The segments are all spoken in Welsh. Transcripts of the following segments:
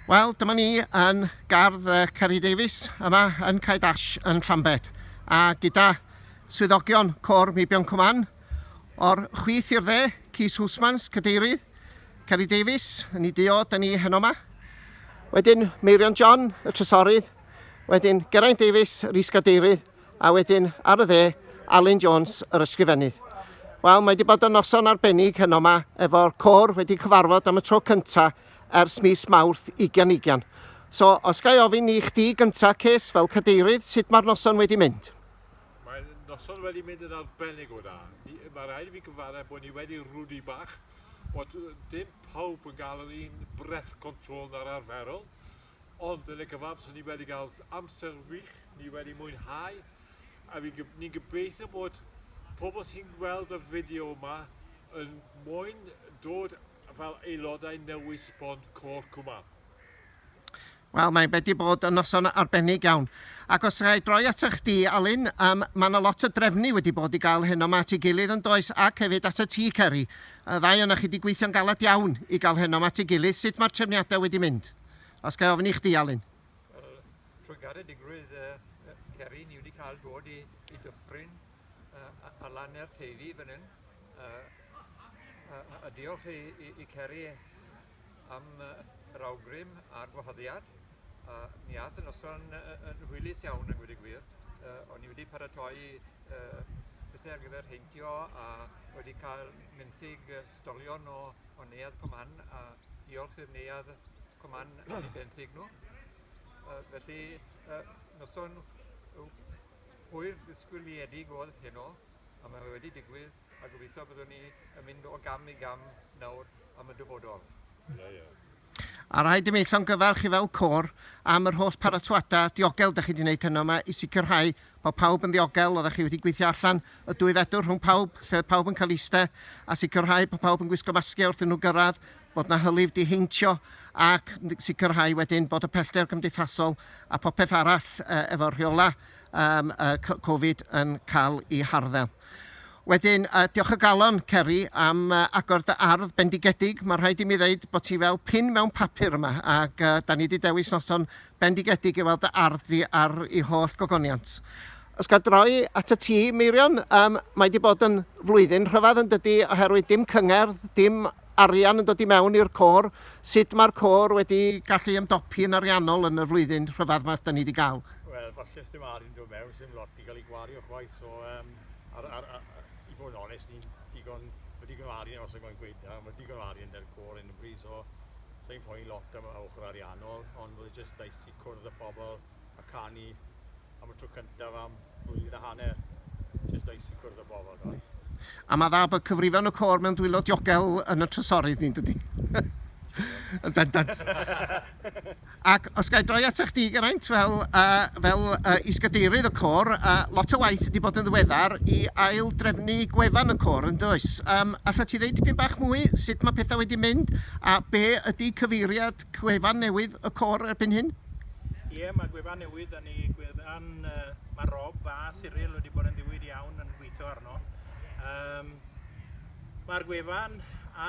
Wel, dyma ni yn gardd uh, Ceri Davies yma yn Cae Dash yn Llambed a gyda swyddogion Cor Meibion Cwman o'r chwith i'r dde, Cys Hwsmans, Cadeirydd, Ceri Davies, yn ei dio, da ni heno yma. Wedyn Meirion John, y trysorydd, wedyn Geraint Davies, yr is-gadeirydd, a wedyn ar y dde, Alun Jones, yr ysgrifennydd. Wel, mae wedi bod yn noson arbennig heno yma, efo'r côr wedi cyfarfod am y tro cyntaf ers mis Mawrth 2020. So, os ga i ofyn i chdi gyntaf, Cees, fel cadeirydd, sut mae'r noson wedi mynd? Mae'r noson wedi mynd yn arbennig o dda. Mae rhaid i fi gyfarau bod ni wedi rwdi bach, bod dim pawb yn gael yr un breath control na'r arferol, Ond yn y cyfamser ni wedi cael amser wych, ni wedi mwynhau, a ni'n gobeithio bod pobl sy'n gweld y fideo yma yn moyn dod fel aelodau newydd sbon Côr Cwma. Wel, mae wedi bod yn noson arbennig iawn. Ac os gai droi ata chdi, Alun, um, mae yna lot o drefnu wedi bod i gael heno ma at ei gilydd yn does, ac hefyd at y ti, Ceri. Y ddau o'na chi wedi gweithio'n galed iawn i gael heno ma at ei gilydd. Sut mae'r trefniadau wedi mynd? Os gael ofyn i chdi, Alun. Wel, trwy garedigrwydd uh, Ceri, ni wedi cael dod i, i dyffryn uh, a lan er teifi fan hyn. Uh, a, a diolch i, i, i Ceri am uh, yr awgrym a'r gwahoddiad. Uh, mi ath y noson yn hwylus iawn yn gwyd y gwir. Uh, o'n i wedi paratoi uh, pethau ar gyfer heintio a wedi cael mynthig Storïon o, o Neuadd Coman a diolch i'r Neuadd Coman am ei benthyg nhw. Uh, felly, uh, noson hwyr ddisgwyliedig oedd heno, a mae wedi digwydd, a gobeithio byddwn ni yn mynd o gam i gam nawr am y dyfodol. Ie, ie. A rhaid i mi llongyfarch i fel côr am yr holl paratoada diogel dych chi wedi wneud heno yma i sicrhau bod pawb yn ddiogel, oeddech chi wedi gweithio allan y dwy fedr rhwng pawb, lle oedd pawb yn cael iste, a sicrhau bod pawb yn gwisgo masgiau wrth iddyn nhw gyrraedd, bod na hylif di heintio ac sicrhau wedyn bod y pellter gymdeithasol a popeth arall efo'r rheolau Covid yn cael ei harddel. Wedyn, uh, diolch o galon, Ceri, am uh, agor dy ardd bendigedig. Mae rhaid i mi ddeud bod ti fel pin mewn papur yma, ac uh, da ni wedi dewis noson bendigedig i weld dy ardd di ar ei holl gogoniant. Os gael droi at y ti, Meirion, um, mae wedi bod yn flwyddyn rhyfedd yn dydy, oherwydd dim cyngerdd, dim arian yn dod i mewn i'r côr, sut mae'r côr wedi gallu ymdopi yn ariannol yn y flwyddyn rhyfedd mae da ni wedi gael? Wel, falle dim arian yn dod mewn, sy'n lot 'di cael ei gwario chwaith, so um, ar, ar, ar, i fod yn onest, ni'n digon, mae digon o arian os yw'n gweud da, mae digon o arian da'r cwr yn y bryd, so sy'n poen lot am y ochr ariannol, ond roedd jyst daeth i cwrdd y pobl a canu am y tro cyntaf am blwyddyn a hanner. Jyst daeth i cwrdd y pobl, doi. A mae dda bod cyfrifon y cor mewn dwylo diogel yn y trysorydd ni'n dydy. Yn bendant. Ac os ga i droi ata chdi, Geraint, fel yy fel yy Is-gadeirydd y côr, yy lot o waith wedi bod yn ddiweddar i ail-drefnu gwefan y côr, yn does? Yym, allet ti ddeud dipyn bach mwy sut mae pethau wedi mynd a be ydy cyfeiriad gwefan newydd y côr erbyn hyn? Ie, mae gwefan newydd 'da ni, gwefan yy ma' Rob a Cyril wedi bod yn ddiwyd iawn yn gweithio arno. Yym, mae'r gwefan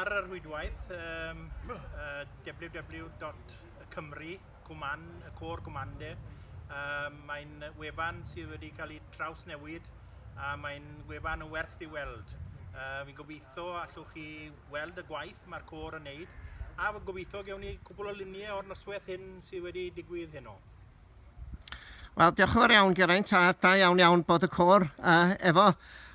ar y rhwydwaith yym yy www. y Cymry, Cwman, y Côr Gwmande. Um, mae'n wefan sydd wedi cael ei trawsnewid a mae'n wefan yn werth i weld. Uh, fi'n gobeithio allwch chi weld y gwaith mae'r côr yn neud a fi'n gobeithio gewn ni cwbl o luniau o'r noswaith hyn sydd wedi digwydd heno. Wel, diolch yn fawr iawn, Geraint, a da iawn iawn bod y côr uh, efo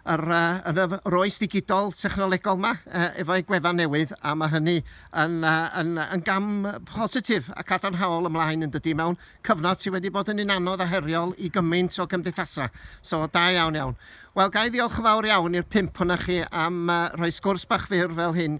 yr, uh, yn y roes digidol technolegol yma uh, efo'i gwefan newydd, a mae hynny yn, uh, yn, yn gam positif a cadarnhaol ymlaen yn dydy mewn cyfnod sydd wedi bod yn un anodd a heriol i gymaint o gymdeithasau. So, da iawn iawn. Wel, ga i ddiolch yn fawr iawn i'r pimp hwnna chi am uh, rhoi sgwrs bach fyr fel hyn